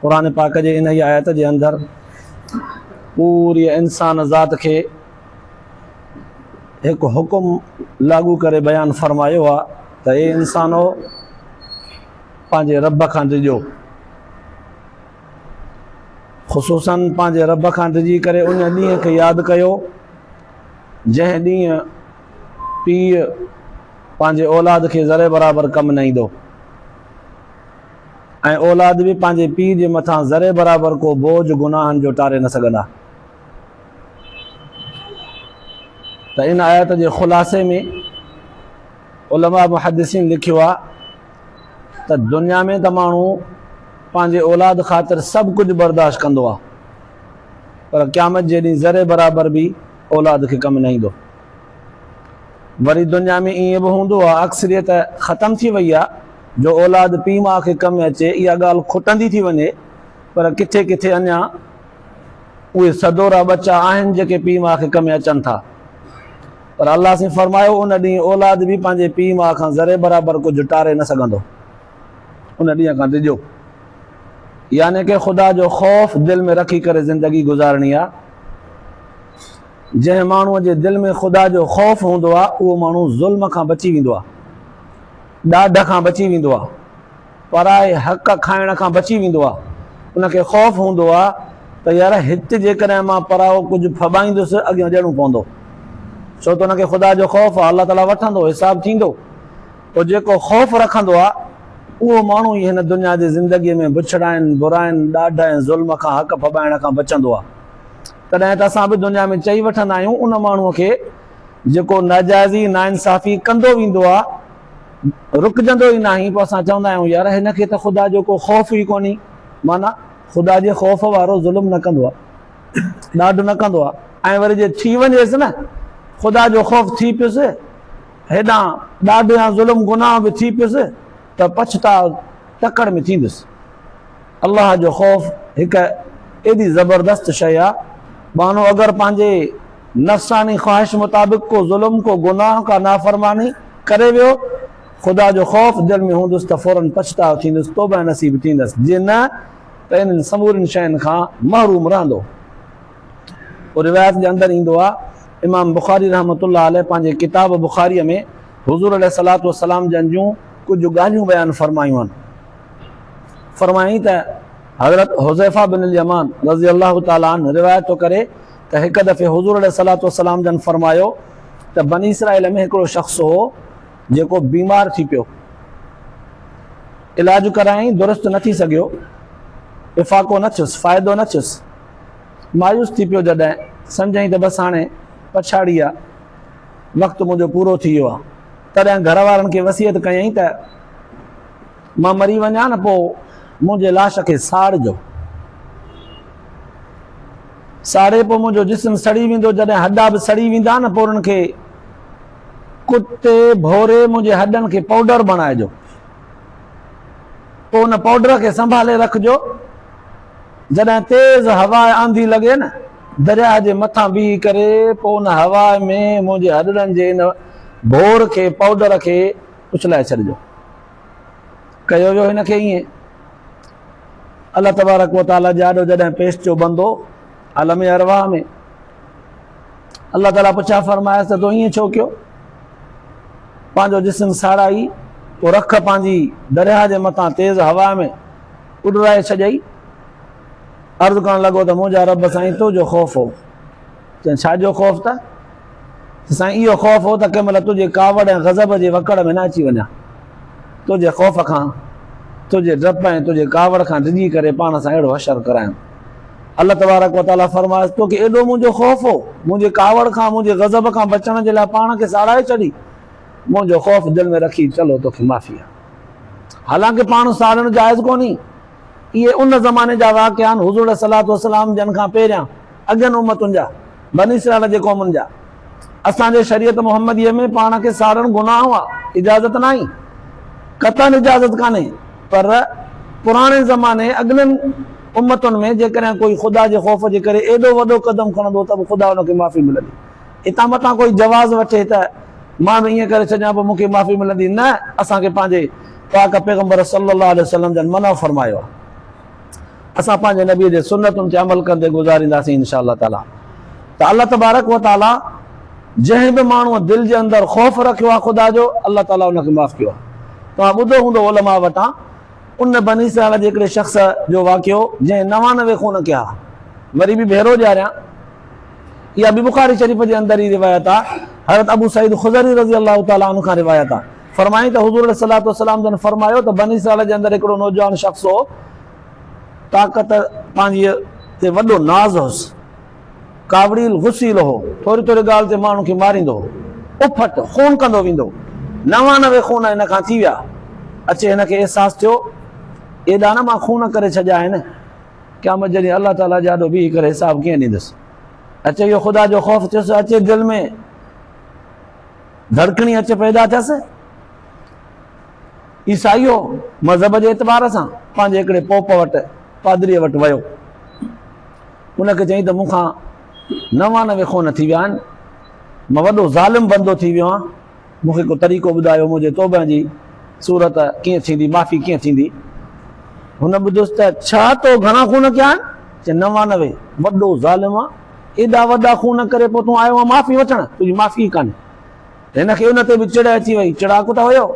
قرآن پاڪ جي انهيء آيت جي اندر پوريء انسان ذات کي هڪ حڪم لاڳو ڪري بيان فرمايو آ ته اي انسانو پنهنجي رب کان ڊڄو خصوصا پنهنجي رب کان ڊڄي ڪري ان ڏينهن کي ياد ڪيو جنهن ڏينهن پيء پنهنجي اولاد کي ذري برابر ڪم نه ايندو ۽ اولاد به پنهنجي پيء جي مٿان ذري برابر ڪو بوجهه گناهن جو ٽاري نه سگهندا. ته ان آيت جي خلاصي ۾ علماء محدثين لکيو آهي ته دنيا ۾ ته ماڻهو پنهنجي اولاد خاطر سڀ ڪجهه برداشت ڪندو آهي پر قيامت جي ڏينهن ذري برابر به اولاد کي ڪم نه ايندو. وري دنيا ۾ ائين به هوندو آهي اڪثريت ختم ٿي وئي آهي جو اولاد پيء ماء کي ڪم اچي اها ڳالهه کٽندي ٿي وڃي پر ڪٿي ڪٿي اڃا اهي سدورا ٻچا آهن جيڪي پيء ماء کي ڪم اچن ٿا پر الله سين فرمايو ان ڏينهن اولاد به پنهنجي پيء ماء کان ذري برابر ڪجهه ٽاري نه سگهندو ان ڏينهن کان ڊڄو يعني ڪي خدا جو خوف دل ۾ رکي ڪري زندگي گذارڻي آ جنهن ماڻهوء جي دل ۾ خدا جو خوف هوندو آهي، اهو ماڻهو ظلم کان بچي ويندو آهي، ڏاڍ کان بچي ويندو آهي، پرائي حق کائڻ کان بچي ويندو آهي. ان کي خوف هوندو آهي ته يار هت جيڪڏهن مان پرائو ڪجهه ڦٻائيندس، اڳيان ڏيڻو پوندو. ڇو ته ان کي خدا جو خوف آهي، الله تعاليٰ وٺندو، حساب ٿيندو. پوء جيڪو خوف رکندو آهي، اهو ماڻهو ئي هن دنيا جي زندگيء ۾ بڇڙاين، برائين، ڏاڍ ۽ ظلم کان، حق ڦٻائڻ کان، بچندو آهي. تڏهن ته اسان به دنيا ۾ چئي وٺندا آهيون ان ماڻهوء کي جيڪو ناجائزي ناانصافي ڪندو ويندو آ رڪجندو ئي ناهي پوء اسان چوندا آهيون يار هن کي ته خدا جو ڪو خوف ئي ڪونهي معنيٰ خدا جي خوف وارو ظلم نه ڪندو آ ڏاڍ نه ڪندو آ ۽ وري جي ٿي وڃيس نه خدا جو خوف ٿي پيس هيڏانهن ڏاڍ يا ظلم گناهه به ٿي پيس ته پڇتاء تڪڙ ۾ ٿيندس. الله جو خوف هڪ ايڏي زبردست شيء آ، ٻانهو اگر پنهنجي نفساني خواهش مطابق ڪو ظلم، ڪو گناهه، ڪا نافرماني ڪري ويو، خدا جو خوف دل ۾ هوندس ته فورن پڇتاء ٿيندس، توبه نصيب ٿيندس، جي نه ته انهن سمورين شين کان محروم رهندو. روايت جي اندر ايندو آ، امام بخاري رحمة الله عليه پنهنجي ڪتاب بخاريء ۾، حضور عليه الصلوة والسلام جن جون ڪجهه ڳالهيون بيان فرمايون آهن. فرمايائين ته حضرت حذيفه بن اليمان رضي الله تعالٰي عنه روايت ٿو ڪري ته هڪ دفعي حضور عليه الصلوة والسلام جن فرمايو ته بني اسرائيل ۾ هڪڙو شخص هو جيڪو بيمار ٿي پيو. علاج ڪرايائين درست نه ٿي سگهيو. افاقو نه ٿيس، فائدو نه ٿيس. مايوس ٿي پيو جڏهن سمجهيائين ته بس هاڻي پڇاڙي آ. وقت منهنجو پورو ٿي ويو آهي. تڏهن گهر وارن کي وصيت ڪيائين ته مان مري وڃان نه پوء منهنجي لاش کي ساڙجو. ساڙي پوء منهنجو جسم سڙي ويندو جڏهن هڏا به سڙي ويندا نه پوء انهن کي ڪتي ڀوري منهنجي هڏن کي پائوڊر بڻائجو. پوء ان پائوڊر کي سنڀالي رکجو جڏهن تيز هوا يا آنڌي لڳي نه. درياهه جي مٿان بيهي ڪري پوء ان هواء ۾ منهنجي هڏڙن جي ان ڀور کي، پائوڊر کي، اڇلائي ڇڏجو. ڪيو ويو هن کي ائين. الله تبارڪ و تعاليٰ جي آڏو جڏهن پيش ٿيو بندو عالم ارواح ۾، الله تعاليٰ پڇا فرمايس ته تو ائين ڇو ڪيو؟ پنهنجو جسم ساڙائي پوء رک پنهنجي درياهه جي مٿان تيز هواء ۾ اڏرائي ڇڏيئي. عرض ڪرڻ لڳو ته منهنجا رب سائين تو جو خوف هو چيائين ڇا جو خوف ته سائين اهو خوف هو ته ڪنهن مهل تنهنجي ڪاوڙ ۽ غضب جي وڪڙ ۾ نه اچي وڃان تنهنجي خوف کان تنهنجي ڊپ ۽ تنهنجي ڪاوڙ کان ڊڄي ڪري پاڻ سان اهڙو حشر ڪرايم الله تبارڪ وتعاليٰ فرمايس تو کي ايڏو منهنجو خوف هو منهنجي ڪاوڙ کان منهنجي غضب کان بچڻ جي لاء پاڻ کي ساڙائي ڇڏي منهنجو خوف دل ۾ رکي چلو توکي معافي آهي حالانڪه پاڻ ساڙڻ جائز ڪونهي اهي ان زماني جا واقعا آهن، حضور عليه الصلوة والسلام جن کان پهريان، اڳين امتن جا، بني اسرائيل جي قومن جا، اسان جي شريعت محمديء ۾ پاڻ کي ساڙڻ گناهه آهي، اجازت ناهي. قطعاً اجازت ڪانهي، پر پراڻي زماني، اڳلين امتن ۾ جيڪڏهن ڪوئي خدا جي خوف جي ڪري ايڏو وڏو قدم کڻندو ته به خدا ان کي معافي ملندي. اتان متان ڪوئي جواز وٺي ته مان به ائين ڪري ڇڏيان پوء مون کي معافي ملندي نه اسان کي پنهنجي پاڪ پيغمبر صلي الله عليه وسلم جن منع فرمايو آهي اسان پنهنجي نبي جي سنتن تي عمل ڪندي گذارينداسين ان شاء الله تعالي ته الله تبارڪ و تعالي جنهن به ماڻهو دل جي اندر خوف رکيو آهي خدا جو الله تعالي ان کي معاف ڪيو آهي توهان ٻڌو هوندو علماء وٽان ان بني اسرائيل جي هڪڙي شخص جو واقعو جنهن نوانوي خون ڪيا وري به ڀيرو ڏياريان اها به بخاري شريف جي اندر ئي روايت آ، حضرت ابو سعيد خضري رضي الله تعالٰي عنه کان روايت آ، فرمائين ته حضور عليه الصلوة والسلام جن فرمايو ته بني اسرائيل جي اندر هڪڙو نوجوان شخص هو، طاقت پنهنجي تي وڏو ناز هوس، ڪاوڙيل غسيل هو، ٿوري ٿوري ڳالهه تي ماڻهن کي ماريندو هو، اڦٽ، خون ڪندو ويندو، نوانوي خون هن کان ٿي ويا، اچي هن کي احساس ٿيو ايڏا نه مان خون ڪري ڇڏيا آهن، قيامت جي ڏينهن الله تعاليٰ جي آڏو بيهي ڪري حساب ڪيئن ڏيندس؟ اچي ويو خدا جو خوف ٿيس اچي دل ۾ ڌڙڪڻي اچي پيدا ٿيس عيسائي هو مذهب جي اعتبار سان پنهنجي هڪڙي پوپ وٽ پادري وٽ ويو ان کي چيائين ته مون کان نوانوي خون ٿي ويا آهن مان وڏو ظالم بندو ٿي ويو آهيان مون کي ڪو طريقو ٻڌايو منهنجي توبهن جي صورت ڪيئن ٿيندي معافي ڪيئن ٿيندي هن ٻڌيس ته ڇا تو گهڻا خون ڪيا آهن چي نوانوي وڏو ظالم آ ايڏا وڏا خون ڪري پو تون آيو آ معافي وٺڻ تنهنجي معافي ئي ڪانهي هن کي ان تي به چڙ اچي وئي چڙاڪ ته هيو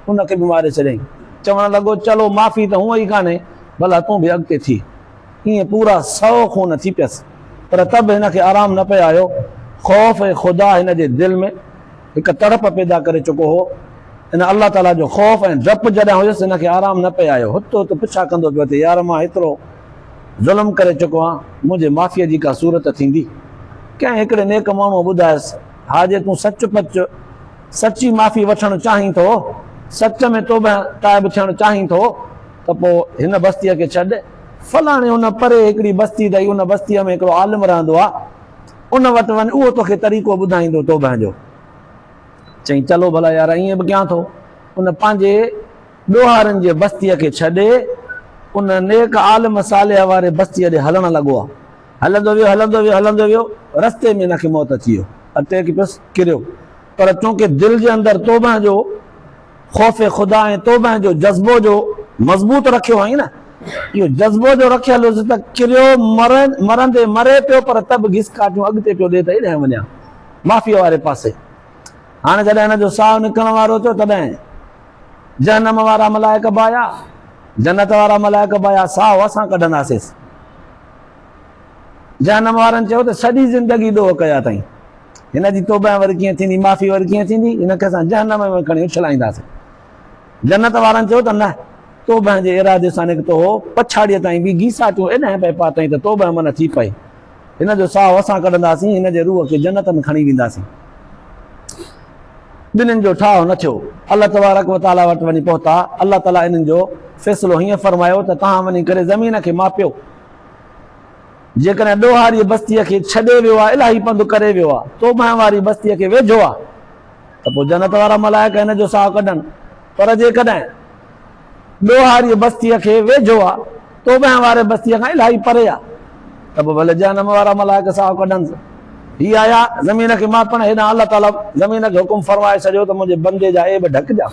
ان کي به ماري ڇڏيائين چوڻ لڳو چلو معافي ته هونء ئي ڪانهي ڀلا تون به اڳتي ٿي ائين پورا سؤ خون ٿي پيس پر ته به هن کي آرام نه پئي آيو خوف خدا هن جي دل ۾ هڪ تڙپ پيدا ڪري چڪو هو. ان الله تعاليٰ جو خوف ۽ ڊپ جڏهن هيس هن کي آرام نه پئي آيو. هت هت پڇا ڪندو پيو اچي، يار مان ايترو ظلم ڪري چڪو آهيان، منهنجي معافيء جي ڪا صورت ٿيندي؟ ڪنهن هڪڙي نيڪ ماڻهوء ٻڌايس، ها جي تون سچ پچ سچي معافي وٺڻ چاهين ٿو، سچ ۾ توبهه تائب ٿيڻ چاهين ٿو ته پوء هن بستيء کي ڇڏ. فلاڻي ان پري هڪڙي بستي اٿئي، ان بستيء ۾ هڪڙو عالم رهندو آهي. ان وٽ وڃ، اهو توکي طريقو ٻڌائيندو توبهه جو. چئي، چلو ڀلا يار، ائين به ڪيان ٿو. ان پنهنجي ڏوهارين جي بستيء کي ڇڏي، ان نيڪ عالم صالح واري بستيء ڏي هلڻ لڳو. هلندو ويو، هلندو ويو، هلندو ويو، رستي ۾ ان کي موت اچي ويو. اٽيڪ پيس، ڪريو. پر چونڪه دل جي اندر توبهه جو. خوف خدا ۽ توبهه جو جذبو جو مضبوط رکيو هئائين نه؟ اهو جذبو جو رکيل هيس ته ڪريو، مرندي مري پيو پر ته به گسڪاٽيون اڳتي پيو ڏي ته ايڏانهن وڃان، مافيا واري پاسي. هاڻي جڏهن هن جو ساهه نڪرڻ وارو ٿيو تڏهن جهنم وارا ملائڪ به آيا، جنت وارا ملائڪ به آيا، ساهه اسان ڪڍنداسينس. جهنم وارن چيو ته سڄي زندگي ڏوهه ڪيا اٿائين. هن جي توبهه وري ڪيئن ٿيندي؟ معافي وري ڪيئن ٿيندي؟ هن کي اسان جهنم ۾ کڻي اڇلائينداسين. جنت وارن چيو ته نه، توبهه جي ارادي سان نڪتو هو، پڇاڙيء تائين به گيساٽيون ايڏانهن پئي پاتئين ته توبهه منع ٿي پئي. هن جو ساهو اسان ڪڍنداسين، هن جي روح کي جنت ۾ کڻي وينداسين. ٻنهين جو ٺاهه نه ٿيو. الله تبارڪ و تعاليٰ وٽ وڃي پهتا. الله تعاليٰ انهن جو فيصلو هيئن فرمايو ته توهان وڃي ڪري زمين کي ماپيو. جيڪڏهن ڏوهاريء بستيء کي ڇڏي ويو آ، الاهي پنڌ ڪري ويو آ، تو مهن واري بستيء کي ويجهو آ، ته پوء جنت وارا ملائڪ هن جو ساهه ڪڍن، پر جيڪڏهن ڏوهاريء بستيء کي ويجهو آ، تو مهن واري بستيء کان الاهي پري آ، ته پوء ڀلي جهنم وارا ملائڪ ساهه ڪڍنس. هي آيا زمين کي ماپڻ هيڏانهن الله تعاليٰ زمين کي حڪم فرمائي ڇڏيو ته منهنجي بندي جا عيب ڍڪجان.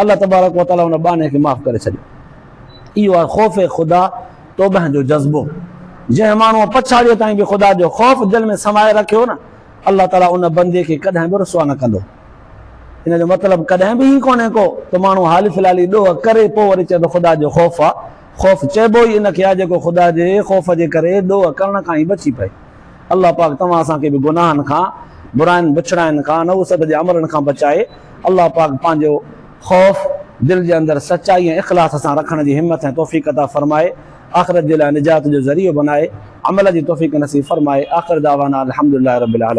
الله تبارڪ و تعاليٰ ان ٻانهي کي معاف ڪري ڇڏيو. اهو آهي خوف خدا توبهه جو جذبو. جنهن ماڻهوء پڇاڙيء تائين به خدا جو خوف دل ۾ سمائي رکيو نه، الله تعاليٰ ان بندي کي ڪڏهن به رسوا نه ڪندو. ان جو مطلب ڪڏهن به هي ڪونهي ڪو ته ماڻهو حالي فلالي ڏوهه ڪري پوء وري چئي ته خدا جو خوف آ. خوف چئبو ئي ان کي آ جيڪو خدا جي خوف جي ڪري ڏوهه ڪرڻ کان ئي بچي پئي. الله پاڪ توهان اسان کي به گناهن کان، براين بڇڙاين کان، نحوست جي عملن کان بچائي. الله پاڪ پنهنجو خوف دل جي اندر سچائي ۽ اخلاص سان رکڻ جي همٿ ۽ توفيق عطا فرمائي. آخرت جي لاء نجات جو ذريعو بنائي. عمل جي توفيق نصيب فرمائي. آخر دعوانا الحمدلله رب العالمين.